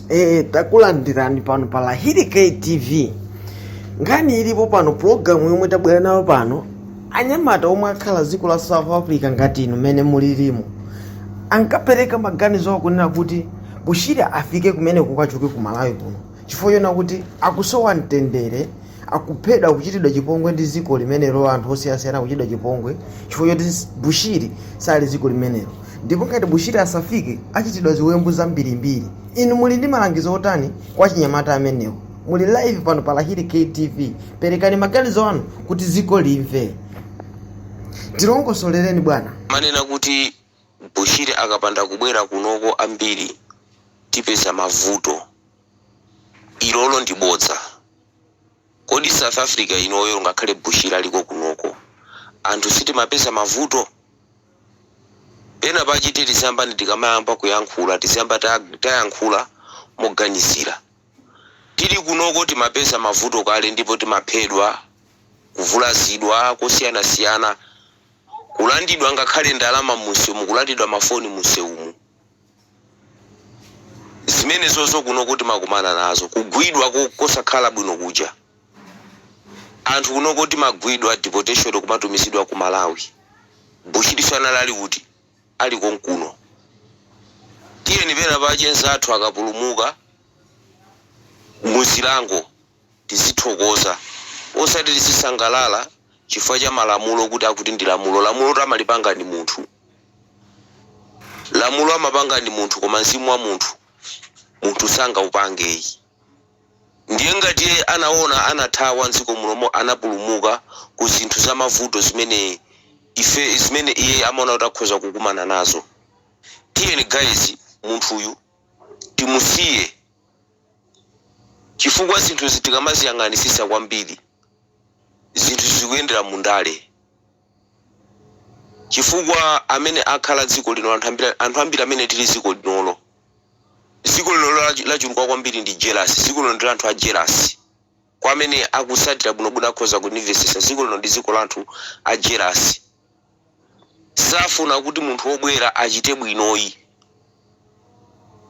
e, takulandirani pano pa lahiri ktv nkhani ilipo pano pulogalamu yomwe tabwera nayo pano anyamata omwe akhala dziko la south africa ngati inu mmene mulilimo ankapereka maganizo akunena kuti bushiri afike kumene kukachoke ku malawi kuno chifukwa chonena kuti akusowa mtendere akuphedwa kuchitidwa chipongwe ndi dziko limenelo anthu osiyanasiyana kuchitidwa chipongwe chifukwa choti bushiri sali dziko limenelo ndipo ngati bushiri asafike achitidwa ziwembu zambirimbiri inu muli ndi malangizo otani kwa achinyamata amenewo muli live pano pa lahiri ktv perekani maganizo anu kuti dziko limve tilongosolereni bwana amanena kuti bushiri akapanda kubwera kunoko ambiri tipeza mavuto ilolo ndi bodza Kodi south Africa inoyo ngakhale Bushiri aliko kunoko anthu sitimapeza mavuto? Pena pache tiye tiziyambani tikamayamba kuyankhula tiziyamba tayankhula moganizira. Tili kunoko timapeza mavuto kale ndipo timaphedwa, kuvulazidwa kosiyanasiyana, kulandidwa ngakhale ndalama munsewumu kulandidwa mafoni munsewumu. Zimenezonso kunoko timakumana nazo, kugwidwa kosakhala bwino kuja. Anthu kunoko timagwidwa, deportation, kumatumizidwa ku Malawi. Bushiriso anali ali kuti? Ali konkuno. Tiyeni pena pache nzathu akapulumuka mu zilango tizithokoza, osati tizisangalala chifukwa cha malamulo kuti akuti ndi lamulo. Lamulotu amalipanga ndi munthu. Lamulo amapanga ndi munthu koma mzimu wa munthu munthu sangaupange yi. Ndiye ngati iye anaona anathawa m'dziko muno mo anapulumuka ku zinthu za mavuto zimene e zimene iye amaona kuti akhoza kukumana nazo. Tiyeni guys munthuyu timusiye chifukwa zinthuzi tikamaziyang'anisisa kwambiri zinthu zikuyendera mu ndale. chifukwa amene akhala dziko lino anthu ambiri amene tili dziko linolo dziko linolo lachuluka kwambiri ndi jealous dziko lino ndi la anthu a jealous kwa amene akutsatira bwinobwino akhoza kundimvetsetsa dziko lino ndi dziko la anthu a jealous safuna kuti munthu wobwera achite bwinoyi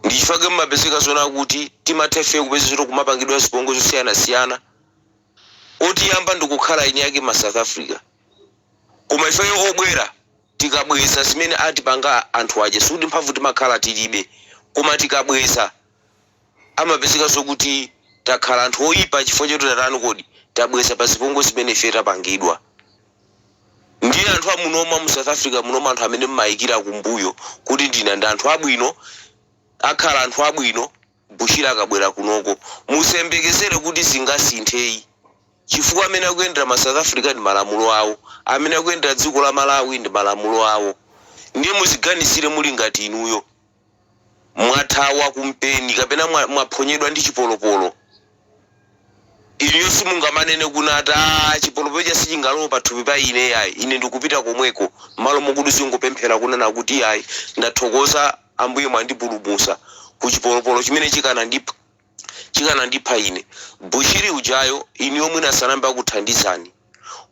ndichifake mmapezeka zonena kuti timatha ife kupezeka zoti kumapangidwa zipongwe zosiyanasiyana otiyamba nkukhala eni ake ma south africa koma ifeyo obwera tikabweza zimene atipanga anthu aja sikuti mphamvu timakhala tilibe koma tikabweza amapezeka zokuti takhala anthu oyipa chifukwa choti tatani kodi tabweza pa zipongwe zimene ifeyo tapangidwa ndiye anthu amunoma amu south africa munomo anthu amene mmayikira kumbuyo kuti ndi ana ndi anthu abwino akhala anthu abwino Bushiri akabwera kunoko musayembekezere kuti zingasintheyi chifukwa amene akuyendera ma south africa ndi malamulo awo, amene akuyendera dziko la malawi ndi malamulo awo ndiye muziganizire muli ngati inuyo mwathawa kumpeni kapena mwaphonyedwa ndi chipolopolo. Inuyo simungamanene kunat, aah, chipolopolo cha sichingalowe pathupi pa ine yayi, ine ndikupita komweko, mmalo mokuti uzingopemphera kunena kut iyayi, ndathokoza Ambuye mwandipulumutsa ku chipolopolo chimene chikanandipha ine. Bushiri ujayo inuyo mwina sanayambe wakuthandizani,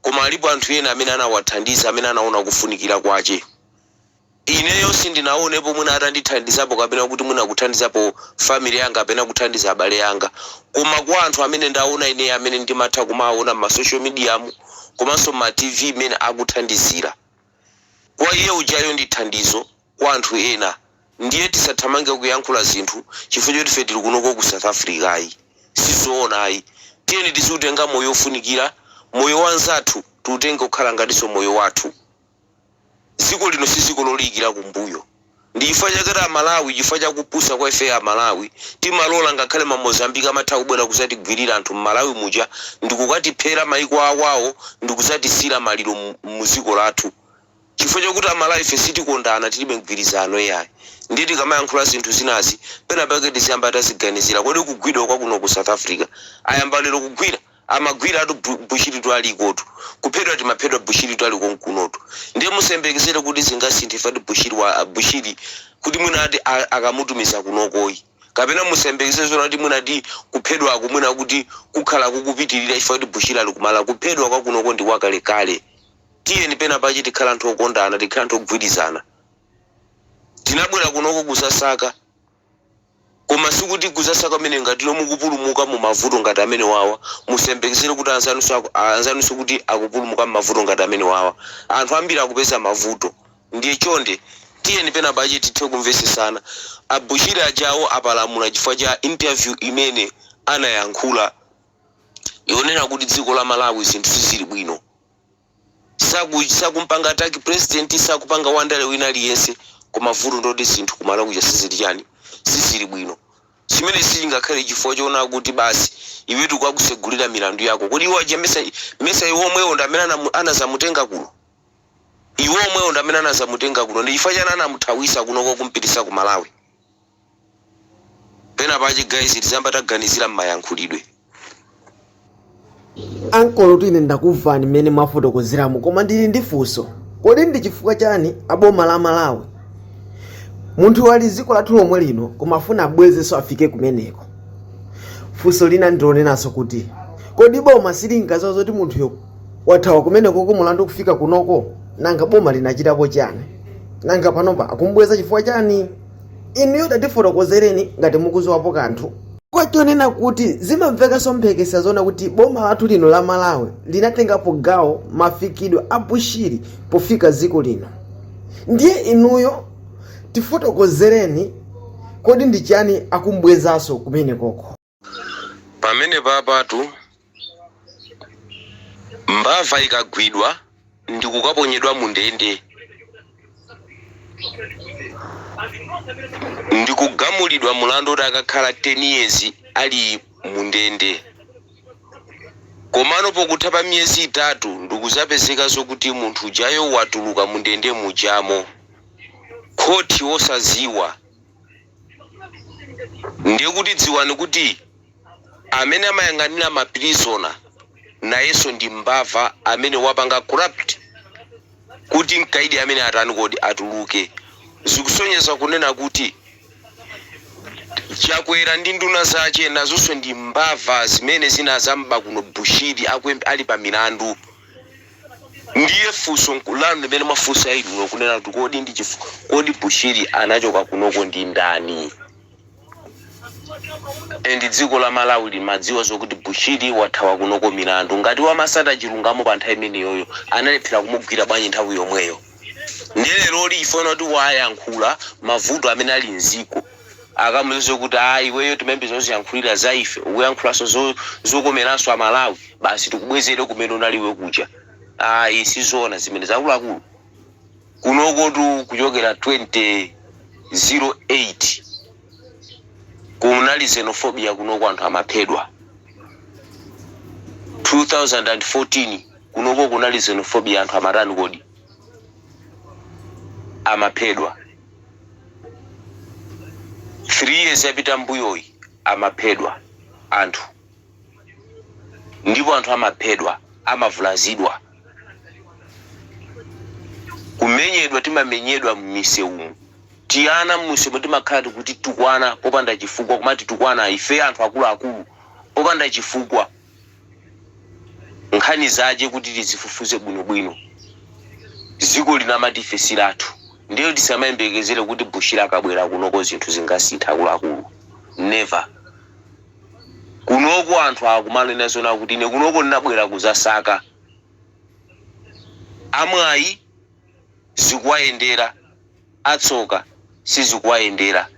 koma alipo anthu ena amene anawathandiza amene anaona kufunikira kwache. Ineyo sindinaonepo mwina atandithandizapo kapena kuti mwina kuthandizapo family yanga kapena kuthandiza abale anga koma kwa anthu amene ndaona ine amene ndimatha kumawaona mma social mediamu komanso mma TV mmene akuthandizira kwa iye ujayo ndi thandizo kwa anthu ena ndiye tisathamange kuyankhula zinthu chifukwa choti ife tili kunoko ku South Africa ayi sizoona ayi tiyeni tiziutenga moyo ofunikira moyo wa nzathu tiutenge kukhala ngatinso moyo wathu. Dziko lino si dziko loliyikira kumbuyo. Ndi chifukwa chake a Malawi chifukwa cha kupusa kwa ife a Malawi timalola ngakhale ma Mozambique amatha kubwera kudzatigwilira anthu m'Malawi muja ndikukatiphera maiko awo ndikudzatisiyira maliro mu dziko lathu chifukwa chakuti a Malawi ife sitikondana tilibe mgwirizano iyayi. Ndiye tikamayankhula zinthu zinazi penapake tiziyamba taziganizira. Kodi kugwidwa kwa kuno ku South Africa ayamba lero kugwira? Amagwiratu Bushiritu alikotu. Kuphedwa timaphedwa Bushiritu ali konkunotu. Ndiye musayembekezere kuti zingasinthe chifukwa ati Bushiri kuti mwina ati akamutumiza kunokoyi. Kapena musayembekezere zoona kuti mwina ati kuphedwaku mwina kuti kukhala kukupitirira chifukwa choti Bushiri ali ku Malawi. Kuphedwa kwa kunoko ndi kwa kalekale. Tiyeni pena pache tikhale anthu okondana, tikhale anthu ogwirizana. Tinabwera kunoko kuzasaka. Koma sikuti kuzasaka kwamene ngati no mukupulumuka mu mavuto ngati amene wawa, musayembekezele kuti anzanuso kuti akupulumuka mmavuto ngati amene wawa. Anthu ambiri akupeza mavuto. Ndiye chonde tiyeni pena pache tithe kumvesesana. A Bushiri ajawo apalamula chifukwa cha interview imene anayankhula yonena kuti dziko la Malawi zinthu sizili bwino. Sakumpanga attack president sakupanga wandale wina aliyense koma vuto ndiloti zinthu ku Malawi kuja sizili chani sizili bwino chimenechi sichingakhale chifukwa choona kuti basi iwe tikukakusegulira milandu yako kodi iwo aja mesa iwo omwewo ndi amene anazamutenga kuno iwo omwewo ndi amene anazamutenga kuno ndi chifukwa chani anamuthawisa kunoko kumpitisa ku Malawi Pena pache guys tiziyamba taganizira mmayankhulidwe. Ankolotu ine ndakumvani mmene mwafotokozeramu koma ndili ndi funso. Kodi ndi chifukwa chani aboma la Malawi munthuyo ali dziko lathu lomwe lino koma afuna abwezenso afike kumeneko? Funso lina ndilonenanso kuti kodi boma silinkadziwa zoti munthuyo wathawa kumeneko ku mulandu kufika kunoko? Nanga boma linachitapo chani? Nanga panopa akumbweza chifukwa chani? inuyo tatifotokozereni ngati mukuziwapo kanthu kwa zonena kuti zimamvekanso mphekesera zonena kuti boma lathu lino la malawi linatengapo gawo mafikidwe a bushiri pofika dziko lino ndiye inuyo tifotokozereni kodi ndi chiyani akumbwezaso kumenekoko Pamenepatu mbava ikagwidwa ndikukaponyedwa mundende ndikugamulidwa mulandu oti akakhala 10 years ali mundende komano pokutha pa miyezi itatu ndikuzapezeka zokuti munthu ujayo watuluka mundende mujamo khothi osaziwa. Ndiye kuti dziwani kuti amene amayang'anila ma prisoner nayenso ndi mbava amene wapanga corrupt kuti mkaidi amene atani kodi atuluke. Zikusonyeza kunena kuti Chakwera ndi nduna zache nazonso ndi mbava zimene zinazamba kuno Bushiri ali pa milandu. Ndiye funso nku, lanu limene mwafunsa inuyo kunena kuti kodi ndi chifuk, kodi Bushiri anachoka kunoko ndi ndani? And dziko la Malawi limadziwa zokuti Bushiri wathawa kunoko milandu. Ngati amatsata chilungamo pa nthawi imeneyoyo analephera kumugwira bwanji nthawi yomweyo? Ndiye leroli chifukwa chonena kuti wayankhula mavuto amene ali m'dziko. akamuuze kuti ayi iweyo timayembekezera uziyankhulira za ife ukuyankhulanso zo- zokomeranso amalawi basi tikubwezere kumene unali iwe kuja ayi sizoona zimenezo akuluakulu kunokotu kuchokera 2008 kunali xenophobia kunoko anthu amaphedwa 2014 kunoko kunali xenophobia anthu amatani kodi amaphedwa 3 years yapita mbuyoyi amaphedwa anthu ndipo anthu amaphedwa amavulazidwa kumenyedwa timamenyedwa mmisewumu tiana mmusewumu timakhala tikutukwanidwa popanda chifukwa kumatitukwana ife anthu akuluakulu popanda chifukwa nkhani zache kuti tizifufuze bwino bwino ziko lino lina amati ife silathu ndiye tisamayembekezere kuti bushiri akabwera kunoko zinthu zingasintha akuluakulu never kunoko anthu akumanena zona kuti ine kunoko ndinabwera kuzasaka amwayi zikuwayendera, atsoka sizikuwayendera.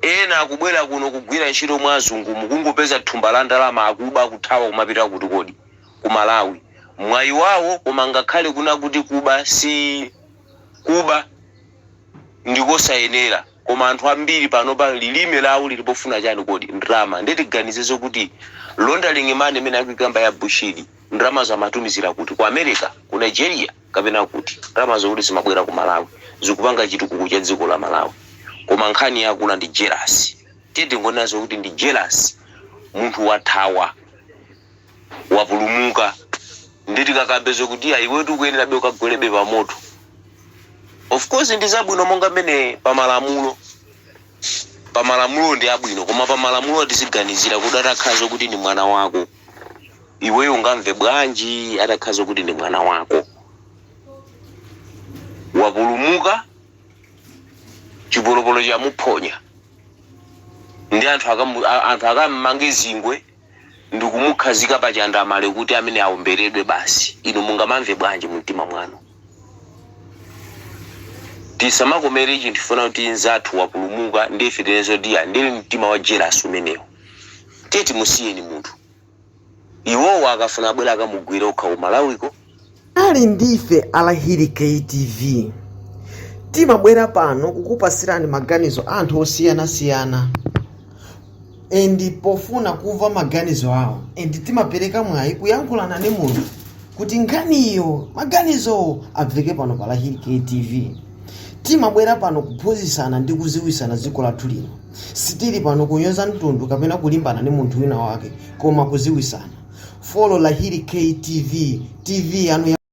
Ena akubwera kuno kugwira ntchito mwa azungumu akungopeza thumba la ndalama akuba kuthawa kumapita kuti kodi? Ku Malawi. Mwayi wawo koma ngakhale kuna kuti kuba si kuba ndi kosayenera koma anthu ambiri panopa lilime lawo lili pofuna chani kodi? Ndalama. Ndiye tiganize zokuti laundering money imene akuikamba ya Bushiri ndalamazo amatumizira kuti? Ku America? Ku Nigeria? kapena kuti ndalama zokuti zimabwera ku malawi zikupanga chitukuko cha dziko la malawi koma nkhani yaikulu ndi jealous tiye tingonena zokuti ndi jealous munthu wathawa wapulumuka nde tikakambe zokuti iya iwetu ukuyenerabe ukagwerebe pa moto of course ndi zabwino monga mmene pa malamulo pa malamulo ndi abwino koma pa malamulo tiziganizira kuti atakhala zo kuti ndi mwana wako iweyo ungamve bwanji atakhala zo kuti ndi mwana wako wapulumuka chipolopolo chamuphonya ndi anthu akammange zingwe ndikumukhazika pa chandamale kuti amene aomberedwe basi inu mungamamve bwanji mu mtima mwanu? Tisamakomere chinthu chifukwa choti nzathu wapulumuka ndiye ife tinene zoti iya ndi mtima wa jealous umenewo. Tiye timusiyeni munthu. Iwowo akafuna abwere akamugwire okha ku Malawiko. ali ndife a lahiri ktv timabwera pano kukupasirani maganizo a anthu osiyanasiyana and pofuna kumva maganizo awo and timapereka mwayi kuyankhulana ndi munthu kuti nkhaniyo maganizowo abveke pano pa lahiri ktv timabwera pano kuphunzitsana ndi kuziwisana dziko lathu lino sitili pano kunyoza mtundu kapena kulimbana ndi munthu wina wake koma kuziwisana follow lahiri ktv tv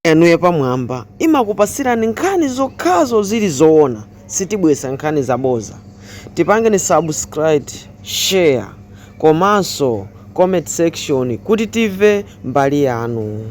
yanu yapamwamba imakupasirani nkhani zokhazo zili zoona sitibwesa nkhani zaboza tipangeni subscribe share komanso comment section kuti tive mbali yanu